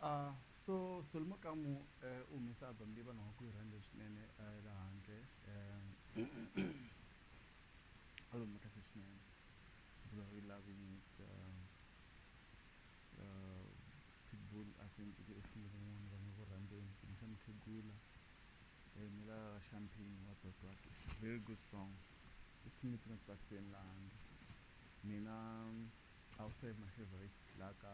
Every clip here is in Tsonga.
A so solo makamu e u humesa album leyi vanhu va ku yi rhandze swinene e la handle e album ya kahle swinene vula u yi lavini ka pitbull a ku endleke e swilo van'wana va nga ku rhandzeni kumbe mukhegula e ni la champagne wa tototo very good song u tshame ntsena ku tsakiseni la handle mina I would say my favorite la ka.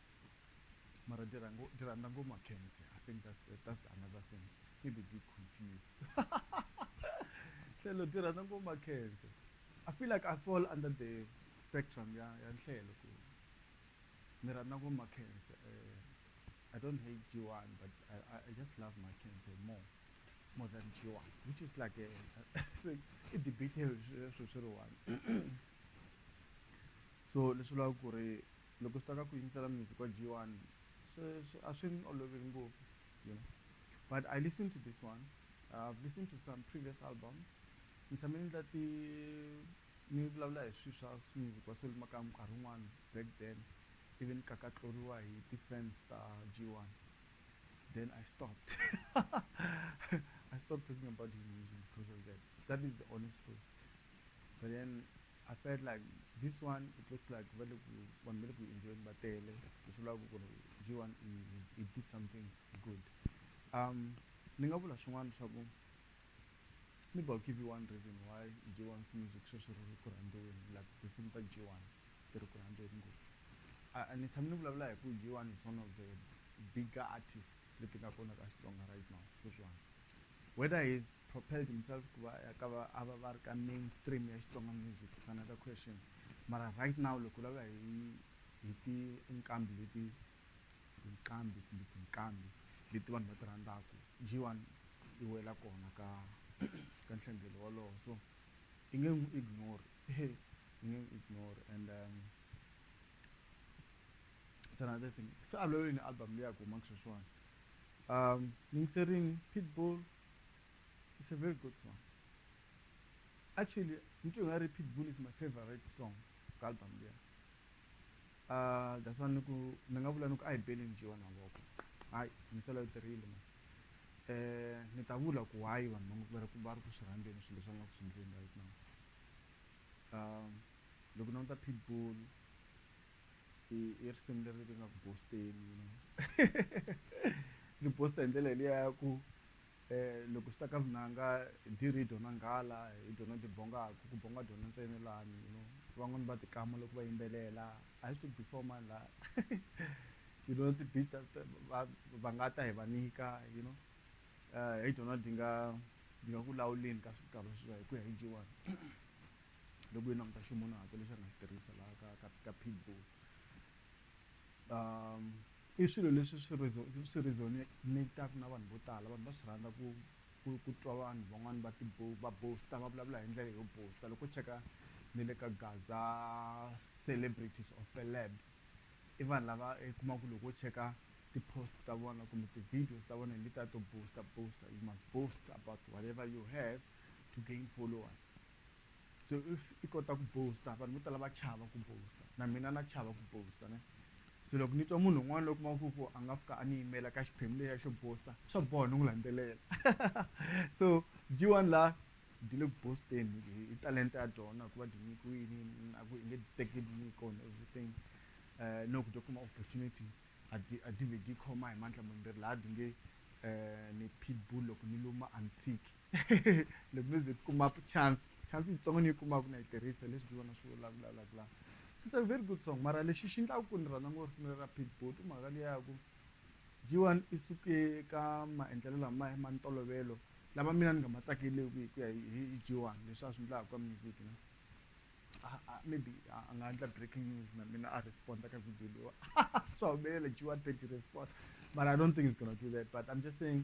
Mara ndi ranga ndi randa ngo Mackenzie. I think that's the, that's the another thing. Keep the big confused. Hlelo ndi rhandza ngo Mackenzie. I feel like I fall under the spectrum ya ya Nhlelo ku ni rhandza ngo Mackenzie. I don't hate G1 but I, I, I just love Mackenzie more more than G1 which is like a, a, a debate swi swi ri one. So leswi vulaka ku ri Loko swi ta ka ku yingisela music wa G1 swi swi a swi ni oloveli ngopfu you know but I listen to this one I've listen to some previous albums ni tshame ni endla ti ni vulavula hi swi swa music wa Solly Makamu nkarhi wun'wana back then ivi ni kakatloriwa hi ti fans ta G1 then I stopped I stopped talking about his music because of that that is the honest truth but then I felt like this one it looks like va le ku vanhu va le ku yi enjoy-eni va tele leswi vulaka ku ri G one i i did something good um ni nga vula swin'wana swa ku maybe I'll give you one reason why G one's music sweswi ri ri ku rhandziweni like tinsimu ta G one ti ri ku rhandziweni ngopfu a a ni tshame ni vulavula hi ku G one is one of the bigger artist leti nga kona ka Xitsonga right now sweswiwani whether he's Propelled himself hikuva a ka va a va va ri ka main stream ya Xitsonga music ku fana na ka Question mara right now loko u lava hi hi ti nqambi leti tinqambi kumbe tinqambi leti vanhu va ti rhandzaka G-one yi wela kona ka ka nhlengelo wolowo so i nge n'wi ignore i nge n'wi ignore and it's another thing se a lwela yini album leyi ya ku humaka sweswiwani yingiserini Pitbull. It's a very good song. Actually, into Ngari Pitbull is my favorite song ka album leyi. Uh, that's why ni ku ni nga vula ni ku a hi beli ni dyiwa na ngoko hayi misala yo tirhile ma eh ni ta vula ku why vanhu va ri ku va ri ku swi rhandzeni swilo leswi va nga ku swi endleni right now um loko ni languta Pitbull i i risimu leri ri nga ku boast-eni you know ri boast-a hi ndlela liya ya ku loko swi ta ka vunanga dirhi yi dyiwa na nghala hi byona byi bongaka ku bonga byona ntsena lani you know van'wani va tikama loko va yimbelela a hi swi ri before mani la you know ti beat ta ta va va nga ta hi va nyika you know hi byona byi nga byi nga ku lawuleni ka swigava leswiwa hi ku ya hi G one. Loko hi languta ximunahatu lexi a nga xi tirhisa laha ka ka ka pit bull i swilo leswi swi swi resonator-ku na vanhu vo tala vanhu va swi rhandza ku ku ku twa vanhu van'wani va ti va boast-a va vulavula hi ndlela yo boast-a loko u cheka ni le ka gaza celebrities or celebs i vanhu lava i kuma ku loko wo cheka ti-post ta vona kumbe ti-videos ta vona hi letiya to boast-a boast-a you must boast about whatever you have to gain followers. So if i kota ku boast vanhu vo tala va chava ku boast na mina na chava ku boast ne se loko ni twa munhu un'wana loyi u kumaka ku a nga fika a ni yimela ka xiphemu lexiya xo boast swa boha ni n'wi landzelela so dyi one la dyi le ku boast-eni hi talenta ya dyona ku va dyi nyikiwini a ku hi nge dyi teki nyiko and everything um no ku dyi kuma opportunity a dyi a dyi vhe dyi khoma hi mandla mambirhi laha dyi nge ni pitbull loko ni luma a ni tshiki loko no ze ti kuma chance chance yitsongo ni yi kumaku na yi tirhisa hi leswi Juva na Swivola a vulavulaku la it's a very good song mara lexi xi ndlaku ku ni rhandza ngopfu risimu leri ra Pitbull i mhaka liya ya ku G1 i suke ka maendlelo lamaya ma ntolovelo lama mina ni nga ma tsakeleku hi ku ya hi G1 leswi a swi ndlaku ka music you know maybe a nga endla breaking news na mina a respond ka video leyiwa swa humelela G1 twenty respond mara I don't think he's gonna do that but I'm just saying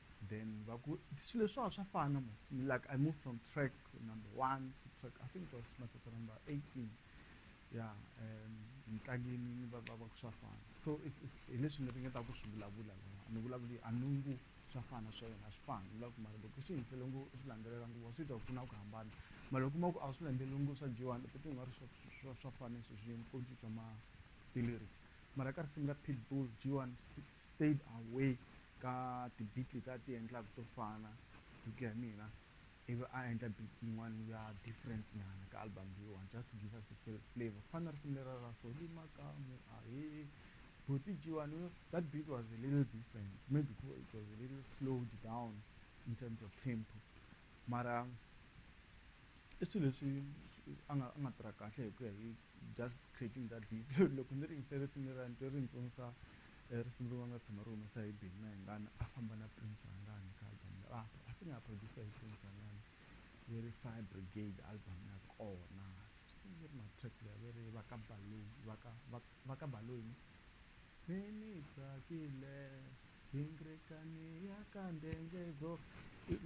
then va ku swilo leswiwa swa fana mos like i moved from track number one to track i think it was matsatsa number eighteen ya um ntlangeni ni va va va ku swa fana so hi leswi ni ringeta ku swi vulavula lava ni vulavuli a ni ngo swa fana swa yena a swi fani ni lava ku mara loko swi yingisele ngo swi landzelela nguva swi ta ku pfuna ku hambana mara loko kuma ku a swi landzeleli ngo swa dyiwani u titwa u nga ri swa swa fana sweswi yini ko cinca ma ti-lyrics mara ka risimu ra pitbull dyiwani stayed away ka ti beat leti a ti endlaka to fana hi ku ya hi mina ivi a endla beat yin'wana ya different nyana ka album leyiwani just to give us a flavor ku fana na risimu lera ra soli makamu ahe buti jiwani you know that beat was a little different maybe ku it was a little slowed down in terms of tempo mara i swilo leswi a nga a nga tirha kahle hi ku ya hi Just creating that video loko ni ringise risimu leriya ni twe ri ni tsundzusa risimu rin'wana nga tshama ri humesa hi Benny Mayengani a famba na Prince Rhangani ka album leyi a I think a producer hi Prince Rhangani ve ri Fire Brigade album ya kona risimu leri ma track leyi ve ri va ka Baloyi va ka va va ka Baloyi ne ni ni tsakile hingrekani ya ka ndhengedzo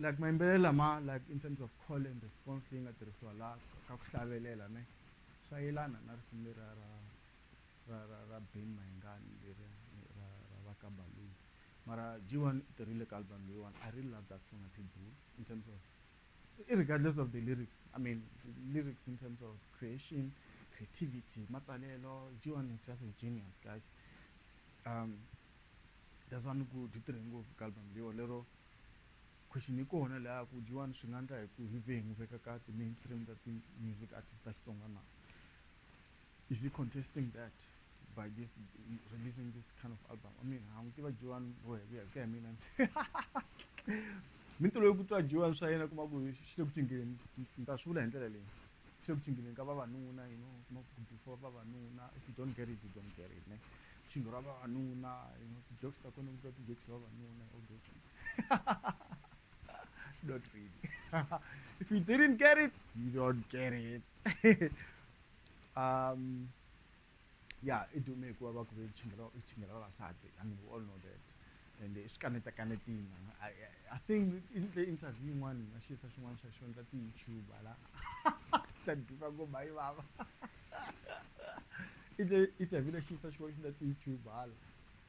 like mayimbelelo lama like in terms of call and response leyi nga tirhisiwa laha ka ku hlavelela ne Swa yelana na risimu leriya ra ra ra ra Ben Mayengani leriya ra ra va ka Baloi mara G-One u tirhile ka album leyiwani I really love that song ya Pitbull in terms of irregardless of the lyrics I mean lyrics in terms of creation creativity matsalelo G-One is just a genius guys um that's why ni ku byi tirhe ngopfu ka album leyiwa lero Question, Hi kona laha ku dyiwani swi nga ndla hi ku hi vengu veka ka ti mainstream ta ti music artist ta Xitsonga na? Is he contesting that by this releasing this kind of album? I mean ha n'wi tiva dyiwani ro heviya hi ku ya hi mina ni tolovele ku twa dyiwani swa yena kuma ku xi le ku cingeni ni ta swi vula hi ndlela leyi xi le ku cingeni ka vavanuna you know kuma ku before vavanuna if you don't get it you don't get it ne cingo ra vavanuna you know ti jokes ta kona ku twa ti jokes ta vavanuna all those things don't read if you didn't get it you don't get it um yeah idume kuva va ku ve chingela vavasati i mean we all know that and swi kaneta kanetina i think intle interview yin'wana na xisa xin'wana xa xona ta ti-youtube ala ta duka ku bayi vava intle interview na xisa xin'wana xi na ti-youtube ala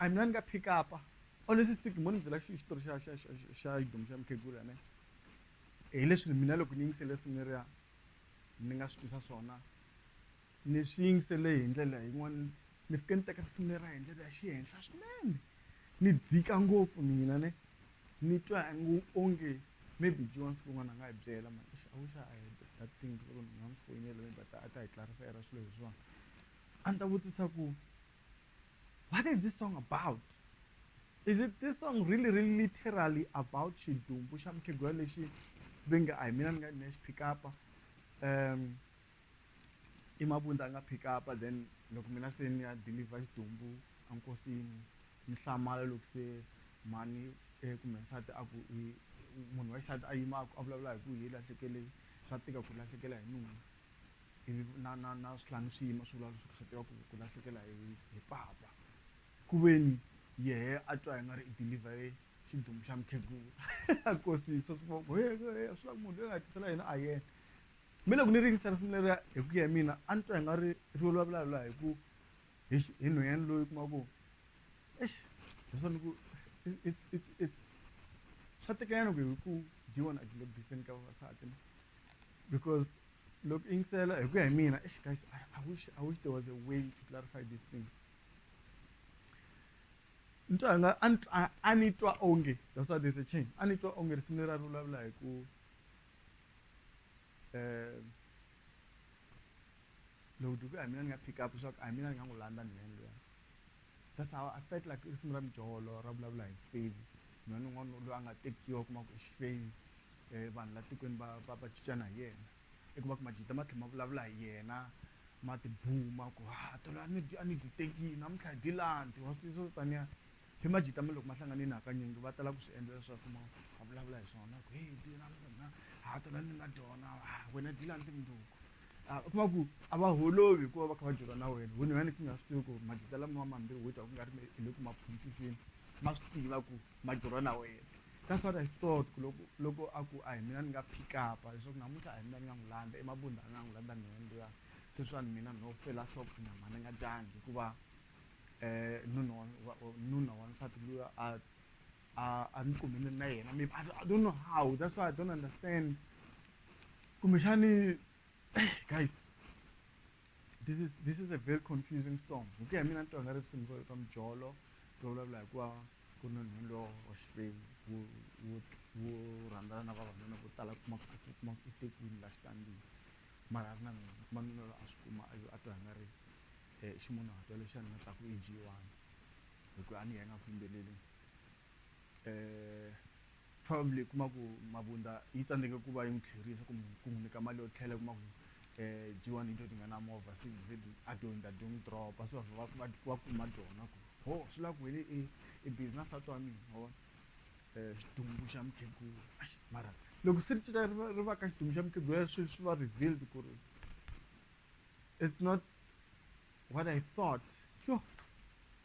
I mean a ni nga pick up honestly speaking mo ni byela xi xitori xa xa xa xa xidomu xa mukhegula ne hileswi mina loko ni yingisele swi leriya ni nga swi twisa swona ni swi yingisele hi ndlela yin'wana ni fike ni teka risimu leriya hi ndlela ya xihenhla swinene ni dzika ngopfu mina ne ni twa ngo onge maybe Joan siku rin'wana a nga hi byela mhani eish I wish I had that thing loko ni nga n'wi foyinela maybe a ta a ta hi clarify-ela swilo leswiwani a ni ta vutisa ku What is this song about? Is it this song really really literally about xidumbu xa mukhegula lexi ve nge a hi mina ni nga ni xi pick up um i mabundza a nga pick up then loko mina se ni ya deliver xidumbu enkosini ni hlamala loko se mhani eh, kumbe nsati a ku munhu wa xisati a yima a vulavula hi ku hi lahlekeleni swa tika ku lahlekela hi nuna ivi na na na switlhangu swi yima swi vulavula swi ku swi tiva ku ku lahlekela hi hi papa ku veni yehe a twa hi nga ri i deliver xidumbu xa mukhegula a kosisa swivoko he swi la ku munhu loyi nga tisela yena a yena mi loko ni ringisa risimu leriya hi ku ya hi mina a ni twa hi nga ri ri vulavula la hi ku hi hi nhwenyani loyi kuma ku exi leswa ni ku swa tekanyana ku hi ku dyiwa na dilebiseni ka vavasati na Because look, in Sela, I agree, I mean, guys, I, I, wish, I wish there was a way to clarify this thing. Ntwanga, anitwa onge, that's why there's a change. Anitwa onge, similar to love like, loko duku a mina ni nga pick up swa ku a mina ni nga n'wi landza ni le ndlwini That's how I felt like risimu ra mijolo ra vulavula hi mfenyi nhwana un'wana loyi a nga tekiwa u kuma ku i xifenyi um vanhu la tikweni va va va cincana hi yena i kuma ku majita ma tlhe ma vulavula hi yena ma tibuma ku ha tolo a ni a ni dyi tekini namuntlha hi dyi landi wa swi tiva swo taniya hi majita ma loko ma hlangane na hakanyingi va tala ku swi endla leswaku ma ma vulavula hi swona ku heyi dyi na ha tolo ni nga dyona wena dyi landi munduku Ah, u kuma ku a va holovi hikuva va kha va dyeriwa na wena wena wena ku nga swi tivi ku magita lama mambirhi wo dya ku nga ri hi le ku ma phuntiseni ma swi tiva ku ma dyeriwa na wena that's what i thought ku loko loko a ku a hi mina ni nga pick up-a leswaku namuntlha a hi mina ni nga n'wi landza emabunda a nga n'wi landza mina ni luya sweswiwani mina no fela shop na mhani ni nga dyangi hikuva um nuna wa nuna wa nsati luya a a a ni kumile na yena maybe i don't know how that's why i don't understand kumbexani hey, guys this is this is a very confusing song hi ku ya mina ni twa nga risimu ro ka mujolo ro vulavula hikuva ku ni nhunu lo wa xikwembu wu wu wu rhandzana na vavanuna vo tala kuma ku a kuma ku tekiwini la xitandini mara a ri na mina kuma mina lo a swi kuma a a twa nga ri um ximunhatwa lexi a ni nga ta ku i jiyiwani hi ku a ni ya nga ku yimbeleleni um Probably u kuma ku Mabunda yi tsandzeke ku va yi n'wi tlherisa kumbe ku n'wi nyika mali yo tlhela u kuma ku um Jiwani hi to ti nga na movha se a to hundza ti n'wi drop-a se va vhela va va kuma tona ku ho swi la ku wena i i busy na nsati wa mina wa vona um xidumbu xa mukhegula exi mara loko se ri cinca ri va ri va ka xidumbu xa mukhegula swi swi va revealed ku ri it's not what I thought yoh.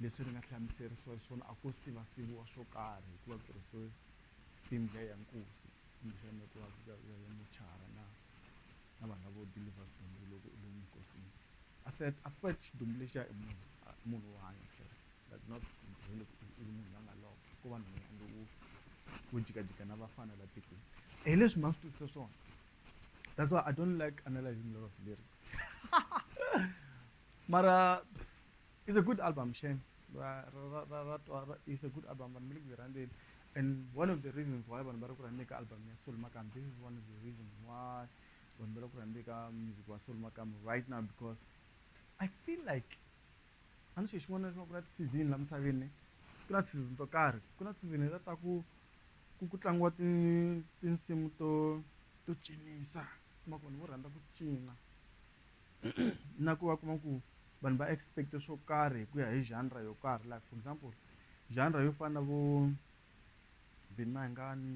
Leswi ri nga hlamuserisiwa xiswona a ko siva siviwa swo karhi hikuva ku tirhisiwe timbya ya nkosi kumbexana ku va ya ya ya mochara na na vanhu lavo deliver swidumbu loko u lomu nkosini a feth a feth xidumbu lexiya i munhu a i munhu wo hanya phela but not hi loko i i munhu la nga lova ko va nhwanyana lowo wo jikajika na vafana la tikweni hi leswi ma swi twisisa swona that's why I don't like analysing lot of lyrics mara. It's a good album shame ra ra ra ra twa ra- it's a good album vanhu mi le ku yi rhandzeni and one of the reasons why vanhu va ri ku rhandzeni ka album ya Soul Makam this is one of the reasons why vanhu va ri ku rhandzeni ka music wa Soul Makam right now because I feel like a ni xilo xin'wana na xin'wana ku na ti-season la misaveni ne ku na ti-season to karhi ku na ti-season leta ta ku ku ku tlangiwa ti- tinsimu to to cinisa kuma ku vanhu vo rhandza ku cina na ku va kuma ku vanhu va expect swo karhi hi ku ya hi genre yo karhi like for example genre yo fana na vo Vin Mayengani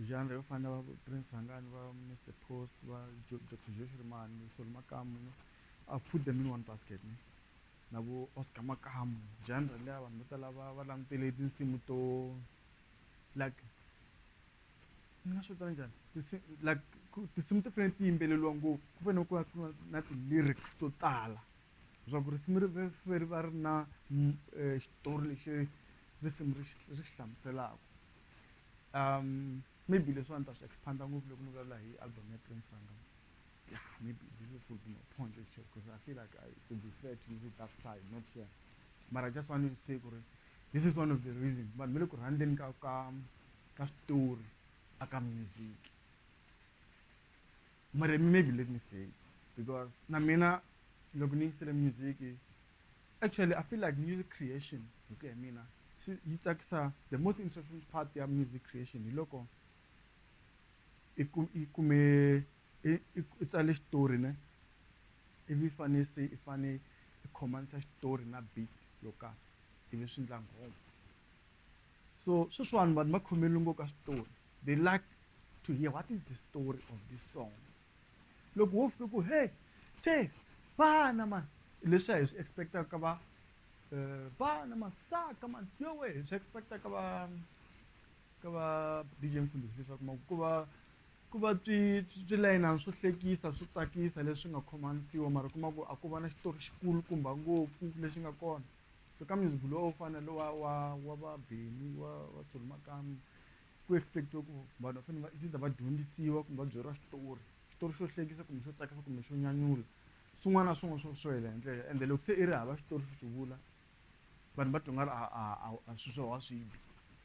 genre yo fana na Prince Rhangani va Mr Post va Dr Josh Rimani Solo Makamu no I put them in one basket ne na vo Oscar Makamu genre leya vanhu vo tala va va langutele tinsimu to like ni nga swi vita njhani tinsi like ku tinsimu ti fanele ti yimbeleriwa ngopfu ku fanele ku va ku ri na ti-lyrics to tala leswaku risimu ri ve fe ri va ri na m- eh, xitori lexi risimu ri xi ri xi hlamuselaka um maybe leswi a ni ta swi expand-a ngopfu loko ni vulavula hi album ya prince ranga ya maybe this is would be my point actually because i feel like i could be fair to use it that side not here mara i just want to say ku ri this is one of the reason vanhu va le ku rhandzeni ka ka ka switori a ka music mara maybe let me say because na mina loko ni yingisele music actually i feel like music creation hi ku ya mina swi yi tsakisa the most interesting part ya music creation hi loko i ku i kume i i tsale xitori ne ivi fane se i fane i khomanisa xitori na beat yo karhi ivi swi ndla nghoma So sweswiwani vanhu va khomele ngopfu ka switori they like to hear what is the story of this song loko wo fika ku he se vana mani leswi a hi swi expectaka ka va um vana masaka mani yowe hi swi expecta ka va ka va dj mfundhisi leswaku ma ku va ku va swi swi layinana swo hlekisa swo tsakisa leswi nga khomanisiwa mara kuma ku a ko va na xitori xikulu kumba ngopfu lexi nga kona So ka music lowa wo fana lowa wa wa va Benny wa wa Soli Makamu ku expect-iwa ku vanhu va fanele va it's either va dyondzisiwa kumbe va byeriwa xitori xitori xo hlekisa kumbe xo tsakisa kumbe xo nyanyula swin'wana na swin'wana swo swo hela hi ndlela ende loko se i ri hava xitori xo xi vula vanhu va twa nga ri a a a a swi swa wa swi bi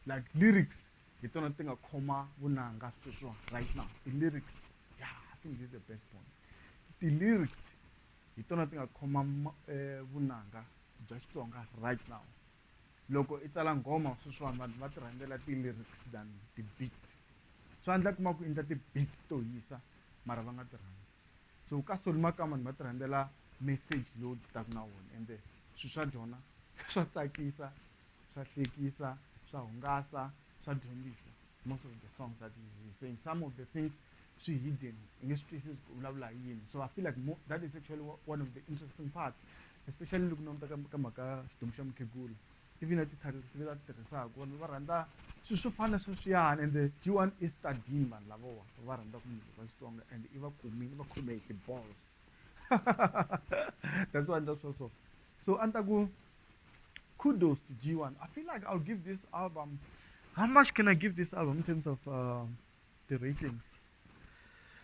like lyrics hi tona ti nga khoma vunanga sweswiwani right now ti-lyrics ya i think this is the best point ti-lyrics. hi tona ti nga khoma vunanga bya Xitsonga right now. Loko i tsala nghoma sweswiwani vanhu va ti rhandzela ti-lyrics than ti-beat. Swa endla u kuma ku i endla ti-beat to hisa mara va nga ti rhandzi. So ka Solly Makamba ni va ti rhandzela message lowu ti taka na wona ende swilo swa byona swa tsakisa, swa hlekisa, swa hungasa, swa dyondzisa most of the songs that he is saying, some of the things swi hidden hi nge swi twisisi ku vulavula hi yini so i feel like more that is actually one of the interesting part especially loko languta ka ka mhaka xidomu xa mukhegula even na ti-titles leti a ti tirhisaka vanhu va rhandza swilo swo fana sweswiyani ende g one i study vanhu lavawa va rhandza ku munhu va xitsonga and i va kumile va khome hi ti-balls that's why endla swo so so a ni ta ku kudos to g one i feel like i'll give this album how much can i give this album in terms of uh, ti-ratings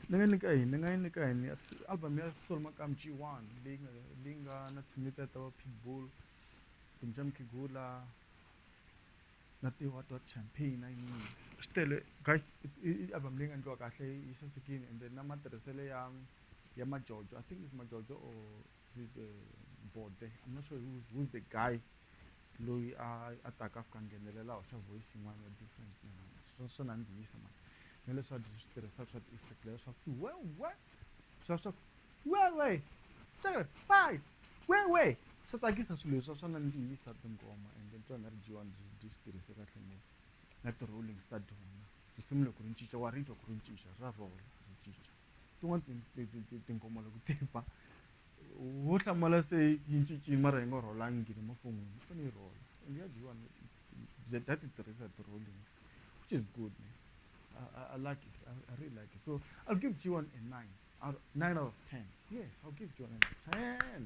ni nga nyika yini ni nga yi nyika yini ya album ya Solo Makamu G one leyi nga leyi nga na tinsimu ta va Pitbull, Bim Jam Makhegula na ti Hot Hot Champagne na yin'wana swi tele guys i i album leyi nga endliwa kahle yi sasekile ende na matirhiselo ya ya majojo I think is majojo or. With the Mbodze, I'm not sure who's, who's the guy loyi a a taka a fika a nghenelela hoxa voice yin'wana ya different swo swo nandzihisa mani na leswi a byi swi tirhisaka swa ti-effect leyo swa ku wewe swa swa ku wewe tere pai wewe swa tsakisa swilo leswa swa nandzihisa tinghoma and then tona ri dyiwa byi byi swi tirhise kahle ngopfu na ti-rollings ta dyona risimu loko ri ncinca wa ri twa ku ri ncinca ra rola ri ncinca tin'wana tinghoma loko ti ba wo hlamala se yi cincile mara yi nga rholangi le mafon'wini yi fanele yi rhola and ya dyiwa data ti tirhisa ti-rollings which is good man I, I, I like it I, I really like it so I'll give G1 a 9 out, 9 out of 10 yes I'll give G1 a 10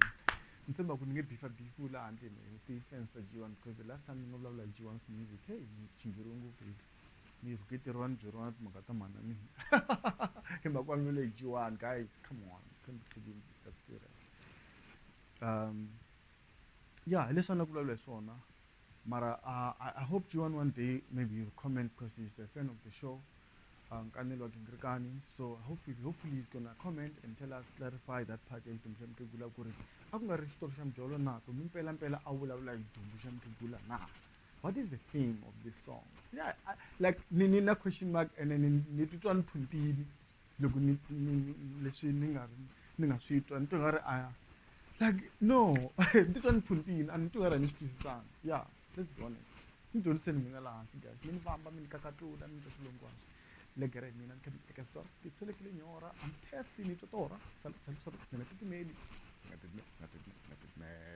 ni tshemba ku ni nge bifa bifu laha handle ni ti fans ta G1 because the last time ni nga vulavula hi G1's music hey ni chingheriwe ngopfu mi yi rhuketeriwa ni byeriwa timhaka ta mhana mina hi mhaka wa milo dyiwani guys come on can't be taking that serious um ya hi leswi a na vulavula hi swona mara uh, I, i hope you one one day maybe you comment because he's a fan of the show uh, nkanelo wa gingirikani so hopefully, hopefully he's gonna comment and tell us clarify that part ya xidumbu xa mukhegula ku ri a ku nga ri xitori xa mujolo na kumbe mpelampela a vulavula hi dumbu xa mukhegula na what is the theme of this song yeah I, like ni ni na question mark and then ni- ni titwa ni phuntile loko ni ni- ni- leswi ni nga ri- ni nga swi twa ni twa nga ri a like no ni titwa ni phuntile a ni twa nga ri a ni swi twisisanga yeah let's be honest ni dyondziseni mina laha hansi guys mi ni vamba mi ni kakatula mi ni twa swilongwana le gere hi mina ni kha ni teka xitori xipitso leki le nyora am test ni twa torha salu salu salu mina titimeli nga titimeli nga titimeli nga titimeli